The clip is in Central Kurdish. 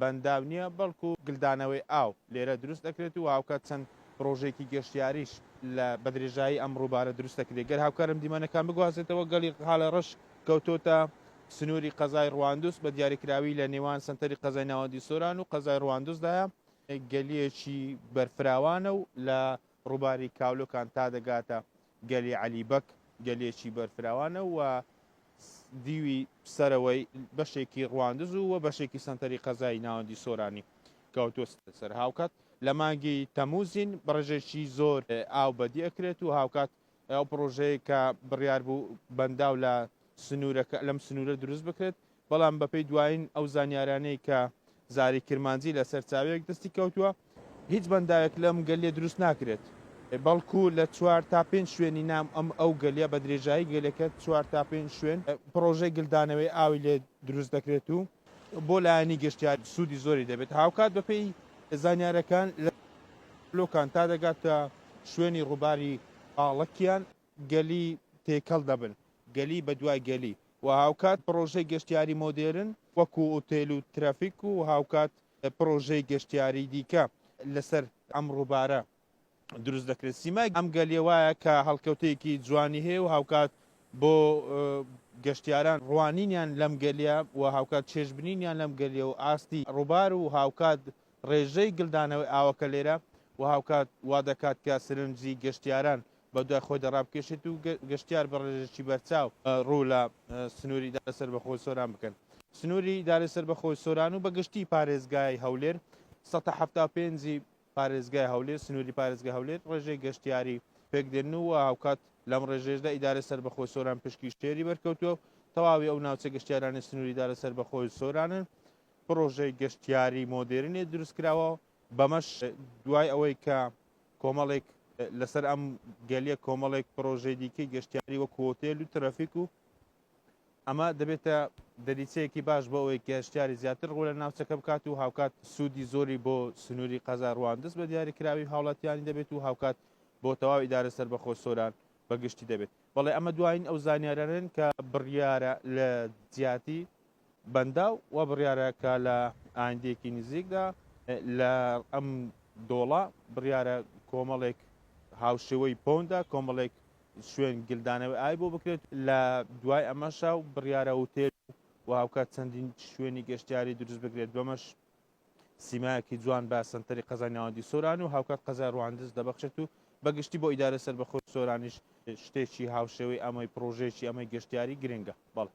بەنداو نییە، بەڵکو گلدانەوەی ئاو لێرە دروست دەکرێت و هاوکات چەند پڕۆژەیەکی گەشتیاریش لە بەدرێژایی ئەم ڕووبارە دروست دەکرێت. گەر هاوکارم دیمەنەکان بگوازێتەوە، گەڵی قالەڕەش کەوتۆتە سنووری قەزای ڕواندوز، بە دیاریکراوی لە نێوان سەنتەری قەزای ناوەندی سۆران و قەزای ڕواندوزدایە، گەلیەکی بەرفراوانە و لە ڕووباری کاولۆکان تا دەگاتە گەلی عەلی بەگ، گەلێکی بەرفراوانە و دیوی سەرەوەی بەشێکی ڕواندز و بەشێکی سەنتەری قەزای ناوەندی سۆرانی کەوتووەتە سەر، هاوکات لە مانگی تەمووزین بەڕێژەیەکی زۆر ئاو بەدی ئەکرێت و هاوکات ئەو پڕۆژەیە کە بڕیار بوو بەنداو لە سنوورەکە لەم سنوورە دروست بکرێت، بەڵام بەپێی دوایین ئەو زانیارانەی کە زاری کرمانجی لە سەرچاوەیەک دەستی کەوتووە، هیچ بەنداوێک لەم گەلیە دروست ناکرێت، بەڵکو لە چوار تا پێنج شوێنی ناو ئەم ئەو گەلیە بە درێژایی گەلەکە چوار تا پێنج شوێن پڕۆژەی گلدانەوەی ئاوی لێ دروست دەکرێت و. بۆ لایەنی گەشتیار سوودی زۆری دەبێت، هاوکات بەپێی زانیارییەکان لە لۆکان تا دەگاتە شوێنی ڕووباری ئاڵەکیان گەلی تێکەڵ دەبن، گەلی بەدوای گەلی و هاوکات پڕۆژەی گەشتیاری مۆدێرن وەکو ئوتێل و ترافیک و هاوکات پڕۆژەی گەشتیاری دیکە لەسەر ئەم ڕووبارە دروست دەکرێت سیمای ئەم گەلی وایە کە هەڵکەوتەیەکی جوانی هەیە و هاوکات بۆ گەشتیاران ڕوانینیان لەم گەلیە و هاوکات چێژبنینیان لەم گەلیە و ئاستی ڕووبار و هاوکات ڕێژەی گلدانەوەی ئاوەکە لێرە و هاوکات وا دەکات کە سرنجی گەشتیاران بە دوای خۆی دەڕابکێشێت و گەشتیار بە ڕێژێکی بەرچاو ڕوو لە سنووری دارە سەر بەخۆی سۆران بکەن سنووری دارە سەر بەخۆی سۆران و بەگشتی پارێزگای هەولێر 1970 پێنجی پارێزگای هەولێر، سنووری پارێزگای هەولێر ڕێژەی گەشتیاری پێکدێنن و هاوکات لەم ڕێژەیەشدا ئیدارەی سەربەخۆی سۆران پشکی شێری بەرکەوتووە و تەواوی ئەو ناوچە گەشتیارانەی سنووری ئیدارە سەربەخۆی سۆرانن پڕۆژەی گەشتیاری مۆدێرنێ دروستکراوە بەمەش دوای ئەوەی کە کۆمەڵێک لەسەر ئەم گەلیە کۆمەڵێک پرۆژەی دیکەی گەشتیاری وەک هۆتێل و ترەفیک و ئەمە دەبێتە دەریچەیەکی باش بۆ ئەوەی گەشتیاری زیاتر ڕوو لە ناوچەکە بکات و هاوکات سوودی زۆری بۆ سنووری قەزای ڕواندز بە دیاریکراوی هاوڵاتیانی دەبێت و هاوکات بۆ تەواو ئیدارە سەربەخۆ سۆران بە گشتی دەبێت بەڵێ ئەمە دوایین ئەو زانیارانەن کە بڕیارە لە جیاتی بەنداو وا بڕیارە کە لە ئایندەیەکی نزیکدا لە ئەم دۆڵە بڕیارە کۆمەڵێک هاوشێوەی پۆندا کۆمەڵێک شوێن گلدانەوەی ئای بۆ بکرێت لە دوای ئەمەشا و بڕیارە وتێل و هاوکات چەندین شوێنی گەشتیاری دروست بکرێت بەمەش سیمایەکی جوان بە سنتەری قەزای ناوەندی سۆران و هاوکات قەزای ڕواندز دەبەخشێت و بەگشتی بۆ ئیدارە سەربەخۆی سۆرانیش شتێکی هاوشێوەی ئەمەی پرۆژێکی ئەمەی گەشتیاری گرنگە بەڵێ